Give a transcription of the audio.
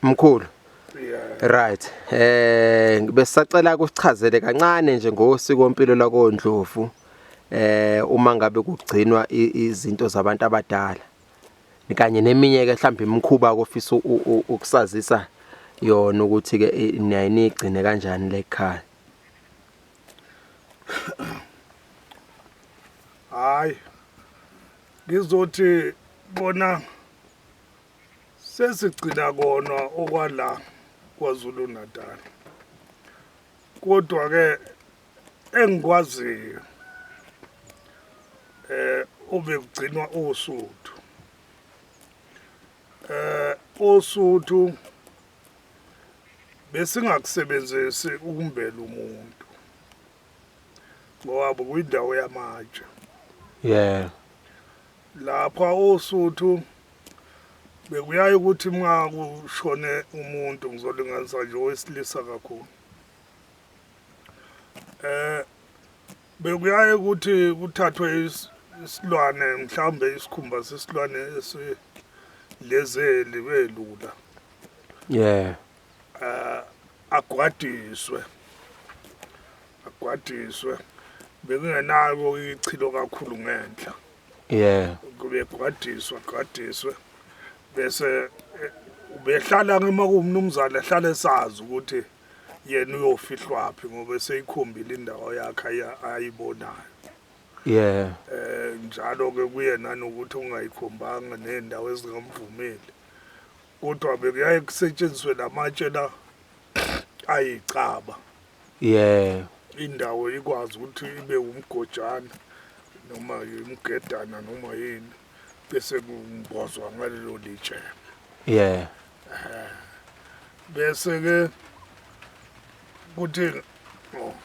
Mkhulu. Right. Eh besacela ukuchazele kancane nje ngosiko impilo lakondlovu. Eh uma ngabe kugcinwa izinto zabantu abadala. Kanye neminye ke mhlawumbe imikhuba ofisa ukusazisa yona ukuthi ke niyayinigcine kanjani lekhaya. Hayi. Ngizothi bona sesigcina kona okwala kwazulu natal kodwa-ke engikwaziyo eh obekugcinwa osuthu eh osuthu besingakusebenzisi ukumbela umuntu ngoba kuyindawo yamatshe yeah Lapha oSuthu bekuyaye ukuthi uma kushone umuntu ngizolinganisa nje owesilisa kakhulu eh bekuyaye ukuthi kuthathwe isilwane mhlawumbe isikhumba sesilwane esilezeli belula yeah eh, agwadiswe agwadiswe bekungenako ichilo kakhulu ngenhla yeah kube gwadiswa gwadiswe bese eh, ubehlala ngema kumnumzane ehlala esazi ukuthi yena uyofihlwaphi ngoba seyikhombile indawo yakhe ayibonayo yeah eh njalo ke kuyena nokuthi ungayikhombanga nendawo ezingamvumeli kodwa bekuyaye kusetshenziswe lamatshe la ayicaba yeah indawo ikwazi ukuthi ibe umgojana noma imgedana noma yini bese kumbozwa ngalelo litshe yeah bese ke kuthi oh,